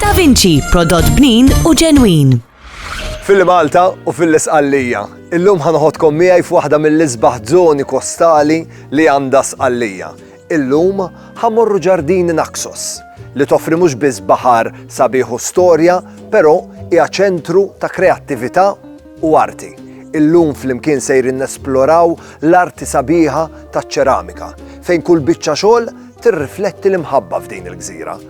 Da Vinci, prodott bnin u ġenwin. F'Illi Malta u f'Illi Sqallija, illum ħa noħodkom miegħi f'waħda mill-isbaħ żoni kostali li għandha Sqallija. Illum ħa mmorru Ġardini Naxos, li toffri mhux biss baħar sabiħ u storja, però hija ċentru ta' kreattività u arti. Illum flimkien sejrin nesploraw l-arti sabiħa taċ-ċeramika, fejn kull biċċa xogħol tirrifletti l-imħabba f'din il-gżira.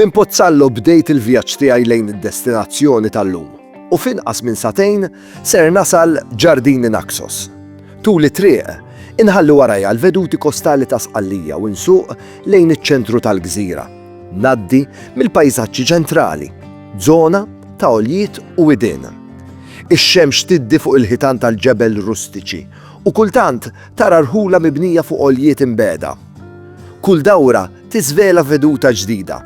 Minn Pozzallo bdejt il-vjaġġ tiegħi lejn id-destinazzjoni tal-lum u f'inqas minn sagħtejn ser nasal Ġardini Naxos. Tul it-triq, inħalli warajja l-veduti kostali ta' Sqallija u nsuq lejn iċ-ċentru tal-gżira. Ngħaddi mill-pajsaġġi ċentrali, żona ta' għoljiet u widien. Ix-xemx tiddi fuq il-ħitan tal-ġebel rustiċi u kultant Tara rħula mibnija fuq għoljiet imbegħda. Kull dawra tiżvela veduta ġdida,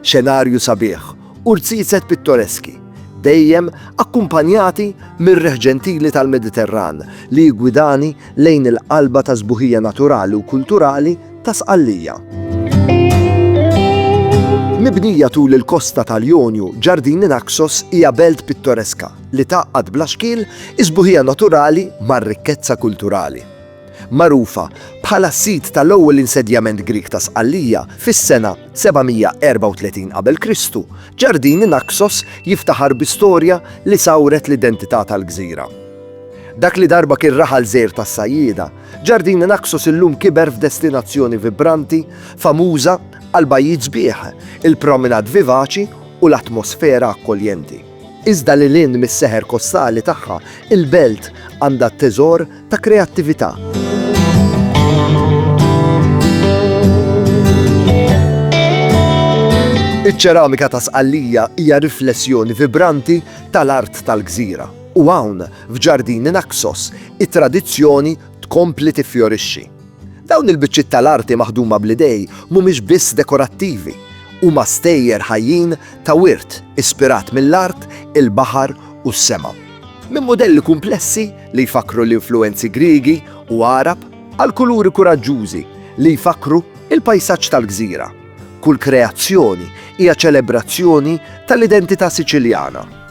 xenarju sabiħ u rziezet pittoreski, dejjem akkumpanjati mir-riħ ġentili tal-Mediterran li jiggwidani lejn il-qalba tas-sbuħija naturali u kulturali ta' Sqallija. Mibnija tul il-kosta tal-Jonju, Ġardini Naxos hija belt pittoreska, li tgħaqqad bla xkiel is-sbuħija naturali mar-rikkezza kulturali. Magħrufa bħala s-sit tal-ewwel insedjament Grieg ta' Sqallija fis-sena 734 qabel Kristu, Ġardini Naxos jiftaħar bi storja li sawret l-identità tal-gżira. Dak li darba kien raħal żgħir tas-sajjieda, Ġardini Naxos illum kiber f'destinazzjoni vibranti, famuża għall-bajjiet sbieħ, il-promenade vivaċi u l-atmosfera akkoljenti. Iżda lil hinn mis-seħer kostali tagħha, il-belt għandha teżor ta' kreattività. Iċ-ċeramika ta' Sqallija hija riflessjoni vibranti tal-art tal-gżira u hawn, f'ġardini Naxos, it-tradizzjoni tkompli tiffjorixxi. Dawn il-biċċiet tal-arti maħduma bl-idej mhumiex biss dekorattivi, huma stejjer ħajjin ta' wirt ispirat mill-art, il-baħar u s-sema. Minn mudelli kumplessi li jfakkru l-influwenzi Griegi u Għarab għal kuluri kuraġġużi li jfakkru l-pajsaġġ tal-gżira, kull kreazzjoni hija ċelebrazzjoni tal-identità Siċiljana.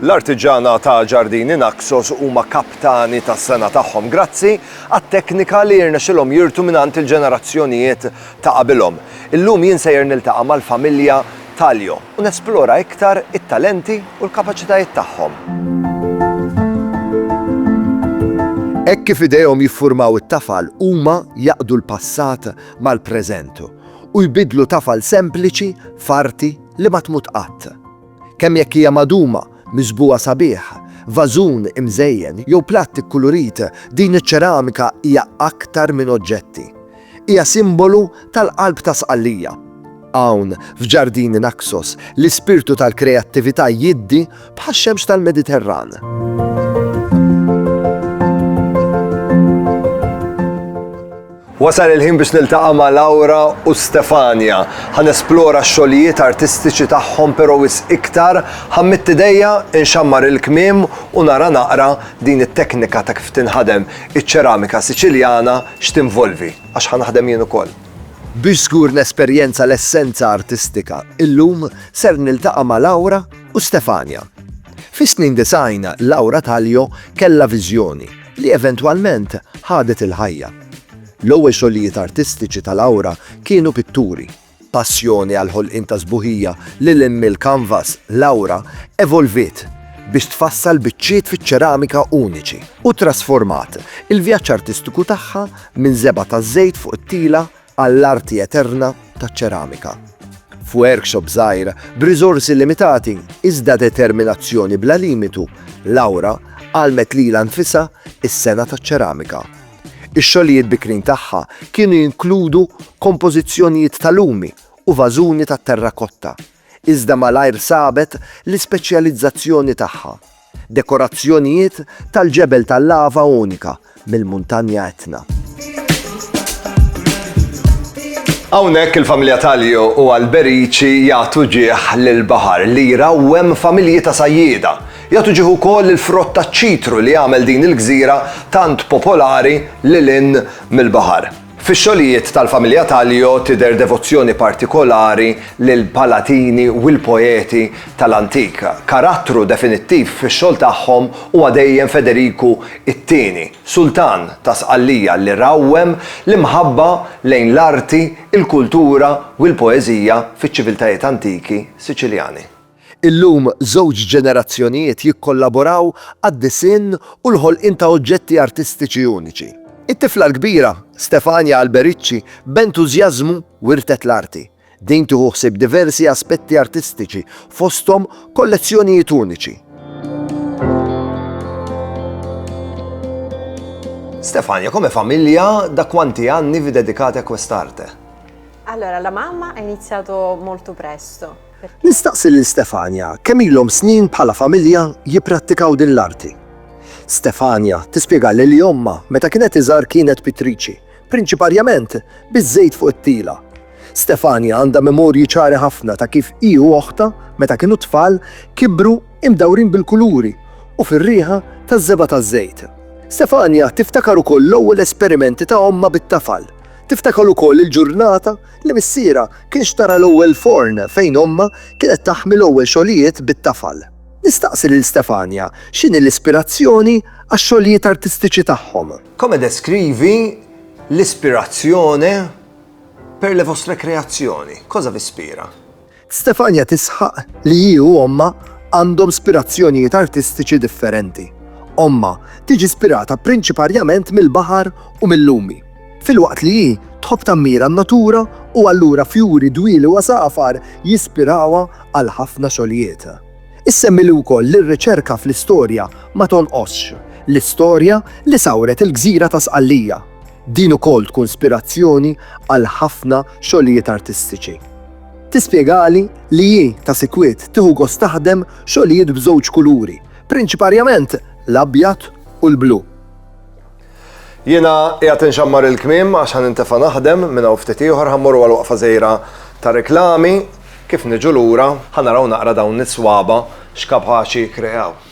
L-artiġana ta' Ġardini Naxos huma kaptani tas-sena tagħhom grazzi għat-teknika li jirnexxilhom jirtu mingħand il-ġenerazzjonijiet ta' qabilhom. Illum jien sejjer niltaqa' mal-familja Taljo u nesplora iktar it-talenti u l-kapaċitajiet tagħhom. Hekk kif idejhom jiffurmaw it-tafal, huma jaqdu l-passat mal-preżent u jbiddlu tafal sempliċi f'arti li ma tmut qatt. Kemm jekk hija magħduma, miżbugħa sabiħ, vażun imżejjen jew platt ikkulurit, din iċ-ċeramika hija aktar minn oġġetti. Hija simbolu tal-qalb ta' Sqallija. Hawn, f'Ġardini Naxos, l-ispirtu tal-kreattività jiddi Bħax-xemx tal-Mediterran. Wasal il-ħin biex niltaqa' ma' Laura u Stefania. Ħa nesplora x-xogħlijiet artistiċi tagħhom però wis iktar ħa mmidd idejja, inxammar il-kmiem u nara naqra din it-teknika ta' kif tinħadem iċ-ċeramika Siċiljana x'tinvolvi, għax ħa naħdem jien ukoll. Biex żgur nesperjenza l-essenza artistika, illum ser niltaqa' ma' Laura u Stefania. Fis-snin disgħin Laura Taglio kellha viżjoni li eventwalment ħadet il-ħajja. L-ewwel xogħlijiet artistiċi ta' Laura kienu pitturi. Passjoni għall-ħolqien ta' sbuħija lil hinn mill-kanvas, Laura evolviet biex tfassal biċċiet fiċ-ċeramika uniċi u ttrasformat il-vjaġġ artistiku tagħha minn żebgħa taż-żejt fuq it-tila għall-arti eterna taċ-ċeramika. F'workshop żgħir, b'riżorsi limitati iżda determinazzjoni bla limitu, Laura għallmet lilha nfisha s-sengħa taċ-ċeramika. Ix-xogħlijiet bikrin tagħha kienu jinkludu kompożizzjonijiet ta' lumi u vażuni tat-terrakotta, iżda malajr sabet l-ispeċjalizzazzjoni tagħha, dekorazzjonijiet tal-ġebel tal-lava unika mill-Muntanja Etna. Hawnhekk il-familja Talio u Alberici jagħtu ġieħ lill-baħar li jrawwem familji ta' sajjieda. Jagħtu ġieħ ukoll lill-frott taċ-ċitru li għamel din il-gżira tant popolari lil hinn mill-baħar. Fix-xogħlijiet tal-familja Talio tidher devozzjoni partikolari lill-palatini u l-poeti tal-antik. Karattru definittiv fix-xogħol tagħhom huwa dejjem Federiku t-Tieni, Sultan ta' Sqallija li rawwem l-imħabba lejn l-arti, il-kultura u l-poeżija fiċ-ċiviltajiet antiki Siċiljani. Illum żewġ ġenerazzjonijiet jikkollaboraw għad-disinn u l-ħolqien ta' oġġetti artistiċi uniċi. It-tifla l-kbira, Stefania Alberici, b'entużjażmu wirtet l-arti. Din tieħu ħsieb diversi aspetti artistiċi, fosthom kollezzjonijiet uniċi. Stefania, come famiglia, da quanti anni vi dedicate a quest'arte? Allora, la mamma ha iniziato molto presto. Nistaqsi lil Stefania kemm ilhom snin bħala familja jipprattikaw din l-arti. Stefania tispjegalli li ommha meta kienet iżgħar kienet pittriċi, prinċiparjament biż-żejt fuq it-tila. Stefania għandha memorji ċari ħafna ta' kif hi u oħtha meta kienu tfal kibru imdawrin bil-kuluri u fir-riħa taż-żebgħa taż-żejt. Stefania tiftakar ukoll l-ewwel esperimenti ta' ommha bit-tafal. Tiftakar ukoll il-ġurnata li missierha kien xtara l-ewwel forn fejn ommha kienet taħmi l-ewwel xogħlijiet bit-tafal. Nistaqsi lil Stefania x'inhi l-ispirazzjoni għax-xogħlijiet artistiċi tagħhom. Come descrivi l'ispirazione per le vostre creazioni? Cosa vi ispira? Stefania tisħaq li hi u ommha għandhom spirazzjonijiet artistiċi differenti. Ommha tiġi spirata prinċiparjament mill-baħar u mil-lumi, filwaqt li hi tħobb tammira n-natura u allura fjuri, dwieli u għasafar jispirawha għal ħafna xogħlijiet. Issemmi li wkoll li r-riċerka fl-istorja ma tonqosx, l-istorja li sawret il-gżira ta' Sqallija. Din ukoll tkun spirazzjoni għal ħafna xogħlijiet artistiċi. Tispjegali li hi, ta' sikwit, tieħu gost taħdem xogħlijiet b'żewġ kuluri, prinċiparjament l-abjad u l-blu. Jiena qiegħed inxammar il-kmiem għax ħa nintefa' naħdem, minn hawn ftit ieħor ħa mmorru għal waqfa żgħira ta' reklami, kif niġu lura ħa naraw naqra dawn is-swaba' x'kapaċi jikkreaw.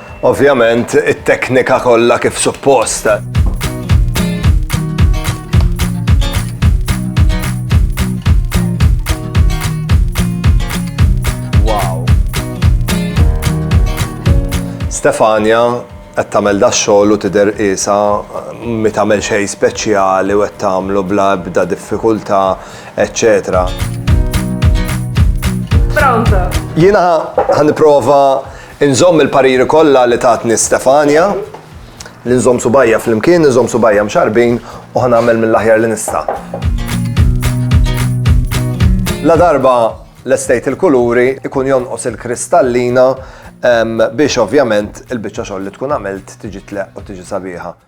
Ovvjament, it-teknika kollha kif suppost. Stefania qed tagħmel da xogħol u tidher qisha mi tagħmel xejn speċjali u qed tagħmlu bla ebda diffikultà, eċċetera. Pronta. Jiena ħan nipprova Inżomm il-pariri kollha li tatni Stefania, li nżomm subgħajja flimkien, inżomm subgħajja mxarrbin u ħa nagħmel mill-aħjar li nista'. Ladarba lestejt il-kuluri, ikun jonqos il-kristallina biex ovvjament il-biċċa xogħol li tkun għamilt tiġi tleqq u tiġi sabiħa.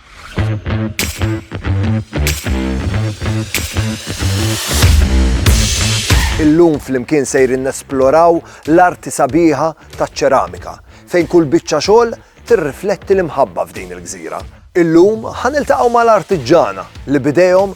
Illum flimkien sejrin nesploraw l-arti sabiħa taċ-ċeramika, fejn kull biċċa xogħol tirrifletti l-imħabba f'din il-gżira. Illum ħa niltaqgħu mal-artiġġana li b'idejhom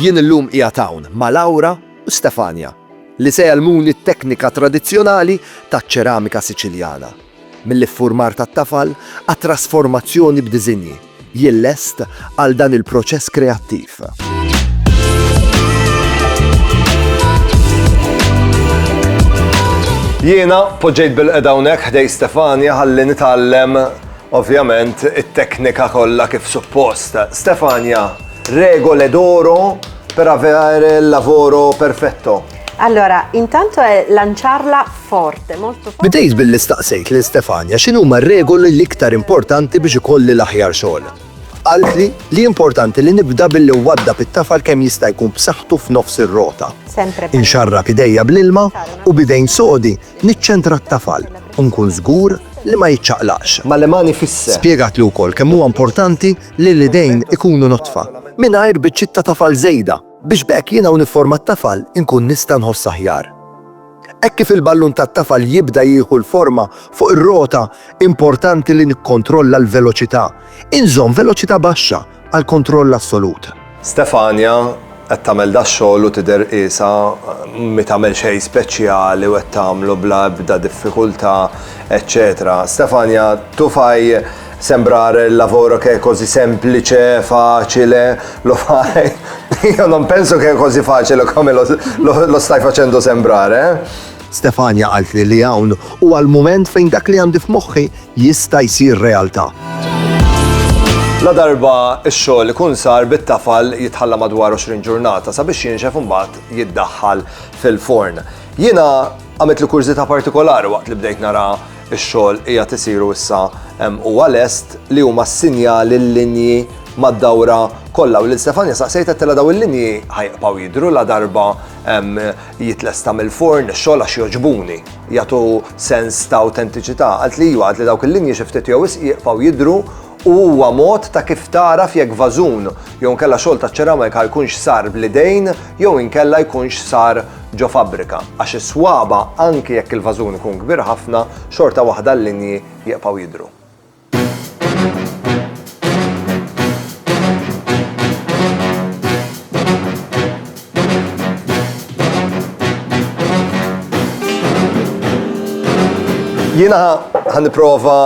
Jien illum qiegħed hawn ma' Laura u Stefania li se jgħallmuni t-teknika tradizzjonali taċ-ċeramika Siċiljana. mill-iffurmar tat-tafal għat-trasformazzjoni b'diżinji, jillest għal dan il-proċess kreattiv. Jiena poġġejt bil-qeda hawnhekk ħdej Stefania ħalli nitgħallem ovvjament it-teknika kollha kif suppost. Stefania, regole d'oro per avere il lavoro perfetto. Allora, intanto è lanciarla forte, molto forte. Bdejt billi staqsejt lil Stefania x'inhuma r-regoli l-iktar importanti biex ikolli l-aħjar xogħol. Qaltli li importanti li nibda billi nwaddab it-tafal kemm jista' jkun b'saħħtu f'nofs ir-rota. Inxarrab idejja bl-ilma u b'idejn sodi niċċentra t-tafal u nkun żgur li ma jiċċaqlaqx. Ma l-imani fisse. Spjegatli wkoll kemm huwa importanti li l-idejn ikunu notfa mingħajr biċċiet ta' tafal żejda biex b'hekk jiena u nifforma t-tafal inkun nista' nħoss aħjar. Hekk kif il-ballun tat-tafal jibda jieħu l-forma fuq ir-rota, importanti li nikkontrolla l-veloċità. Inżomm veloċità baxxa għal kontroll assolut. Stefania qed tagħmel dax-xogħol u tidher qiesha mi tagħmel xejn speċjali u qed tagħmlu bla ebda diffikultà, eċċetera Stefania, tufaj! Sembrar il lavoro che è così semplice, facile, lo fai. Io non penso che è così facile come lo, lo, lo stai facendo sembrare. Eh? Stefania għalt li li hawn u għal-moment fejn dak li għandi f'moħħi jista' jsir realtà. La darba x-xogħol ikun sar bit-tafal jitħalla madwar 20 ġurnata sabiex jinxef imbagħad jiddaħħal fil-forn. Jiena għamilt li kurżita partikolari waqt li bdejt nara Ix-xogħol qiegħed isiru issa hemm huwa lest li huma s-sinjali l-linji mad-dawra kollha u lil Stefania saqsejt għedtilha daw il-linji ħajqbgħu jidhru ladarba jitlesta mill-furn ix-xogħol għax jogħġbuni, jagħtu sens ta' awtentiċità. Qaltli iva, qaltli dawk il-linji xi ftit jew wisq jiqfgħu jidhru u huwa mod ta' kif tagħraf jekk vażun jew inkella xogħol taċ-ċeramika jkunx sar bl-idejn jew inkella jkunx sar ġo fabbrika, għax is-swaba' anki jekk il-vażun ikun kbir ħafna, xorta waħda l-linji jibqgħu jidhru. Jiena ħa nipprova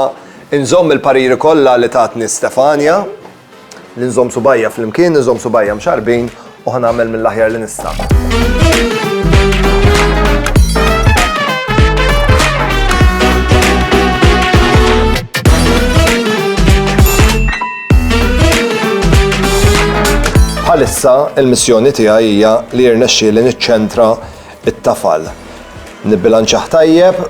Inżomm il-pariri kollha li tatni Stefania, li nżomm subgħajja flimkien, inżomm subgħajja mxarrbin u ħa nagħmel mill-aħjar li nista'. Bħalissa il-missjoni tiegħi hija li jirnexxieli niċċentra t-tafal. Nibbilanċjah tajjeb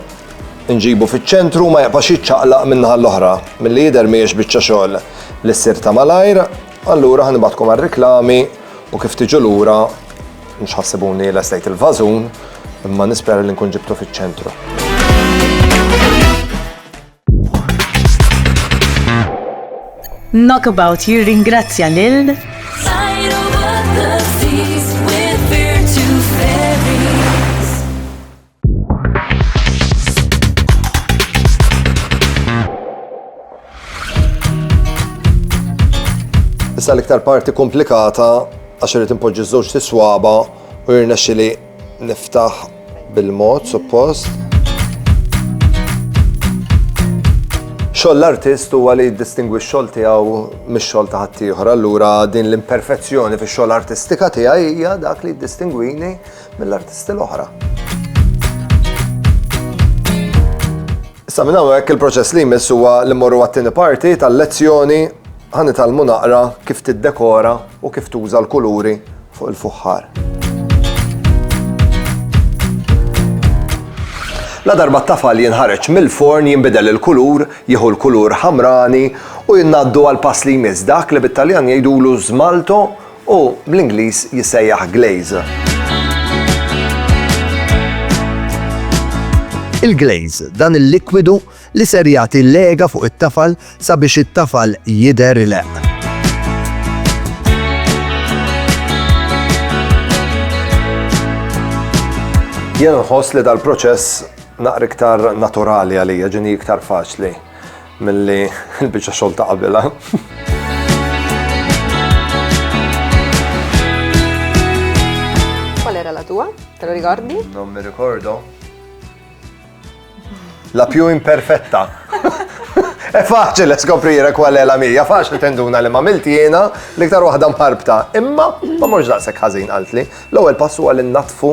Inġibu fiċ-ċentru u ma jaqbax jiċċaqlaq min-naħa l-oħra. Milli jidher mhijiex biċċa xogħol li ssir ta' malajr, allura ħa nibgħatkom għar-riklami u kif tiġu lura mhux ħassibuni lestejt il-vażun imma nispera li nkun ġibtu fiċ-ċentru. Knockabout jirringrazzja lil Issa l-iktar parti komplikata għax irid impoġġi żewġ tiswaba u jirnexxi li niftaħ bil-mod suppost. Xoll l-artist huwa li jiddistingwi x-xogħol tiegħu mix-xogħol ta' ħaddieħor. Allura din l-imperfezzjoni fix-xogħol artistika tiegħi hija dak li jiddistingwini mill-artisti l-oħra. Sa minn hawnhekk il-proċess li jmiss huwa li morru għat-tieni parti tal-lezzjoni ħan italmu naqra kif tiddekora u kif tuża l-kuluri fuq il-fuħħar. La darba t-tafal jinħareġ mill-forn jinbidel il-kulur, jieħu l-kulur ħamrani u jinnaddu għal pass li jmiss dak li bit-Taljan jgħidulu żmalto u bl-Ingliż jissejjaħ glaze. Il-glaze, dan il-likwidu li ser jagħti lega fuq it-tafal sabiex it-tafal jidher ileqq. Jien nħoss li dal-proċess naqra iktar naturali għalija, ġini iktar faċli. Milli l-biċċa xogħol ta' qabilha. Te lo ricordi? Non mi ricordo. La più imperfetta. È facile scoprire qual è la mia, facile tenduna li ma milti jena l-iktar waħda mħarbta. Imma ma mhux daqshekk ħażin qaltli. L-ewwel passu għal innatfu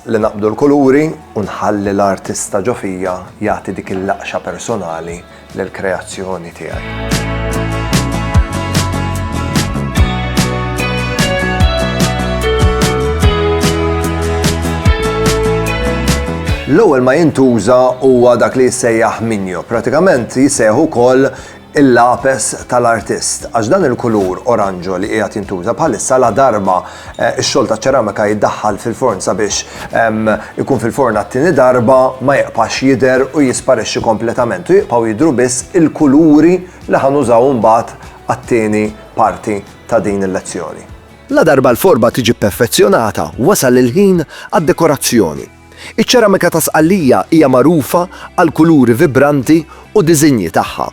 Li naqbdu l-kuluri u nħalli l-artista ġo fija jagħti dik il-laqxa personali lill-kreazzjoni tiegħi. L-ewwel ma jintuża huwa dak li jissejjaħ minjo. Pratikament jissejjaħ ukoll il-lapes tal-artist, għax dan il-kulur oranġo li qiegħed jintuża bħalissa ladarba x-xogħol taċ-ċeramika jiddaħħal fil-forn sabiex ikun fil-forn għat-tieni darba ma jibqax jidher u jisparixxi kompletament u jibqgħu jidhru biss il-kuluri li ħa nużaw imbagħad għat-tieni parti ta' din il-lezzjoni. Ladarba l-forma tiġi pperfezzjonata, wasal il-ħin għad-dekorazzjoni. Iċ-ċeramika ta' Sqallija hija magħrufa għall-kuluri vibranti u diżinji tagħha,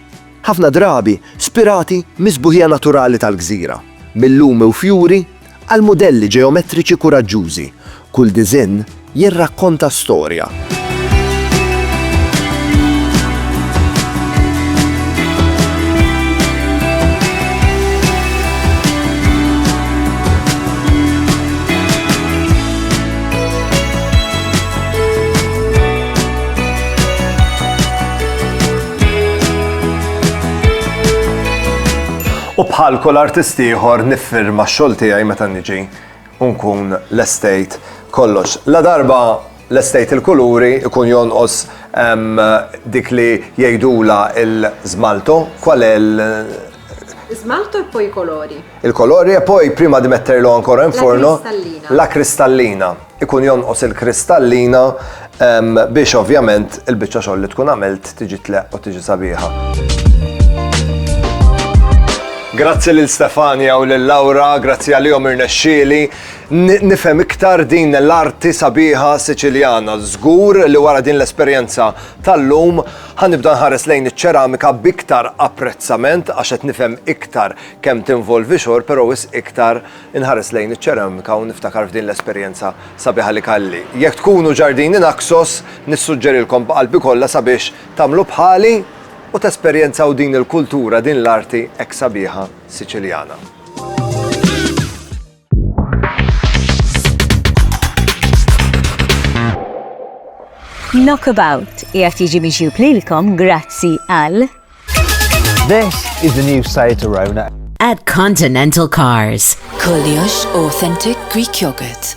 ħafna drabi spirati mis-sbuħija naturali tal-gżira, mil-lumi u fjuri għal mudelli ġeometriċi kuraġġużi, kull diżinn jirrakkonta storja. U bħal kull artist ieħor niffirma x-xogħol tiegħi meta niġi u nkun l-estate kollox. La darba l-estate il-kuluri ikun jonqos dik li jgħidula il-żmaltu kwal Smalto e poi i colori. Il-kolori e poi prima di metterlo ancora in forno. La cristallina. La cristallina. Ikun jonqos il-kristallina biex ovvjament il-biċċa xogħol li tkun għamilt tiġi tleqq u tiġi sabiħa. Grazzi lil Stefania u lil Laura, grazzi għalihom irnexxieli. Nifhem iktar din l-arti sabiħa Siċiljana. Żgur li wara din l-esperjenza tal-lum Ħa nibda nħares lejn iċ-ċeramika b'iktar apprezzament għax qed nifhem iktar kemm tinvolvi xogħol però wisq iktar inħares lejn iċ-ċeramika u niftakar f'din l-esperjenza sabiħa li kalli. Jekk tkunu ġardini Naxos, nissuġġerilkom b'qalbi kollha sabiex tagħmlu bħali u tesperjenzaw din il-kultura, din l-arti hekk sabiħa Siċiljana. Knockabout jgħat jiġi miġjub lilkom grazzi għal. This is the new site to Rona. At Continental Cars. Koliosh Authentic Greek Yogurt.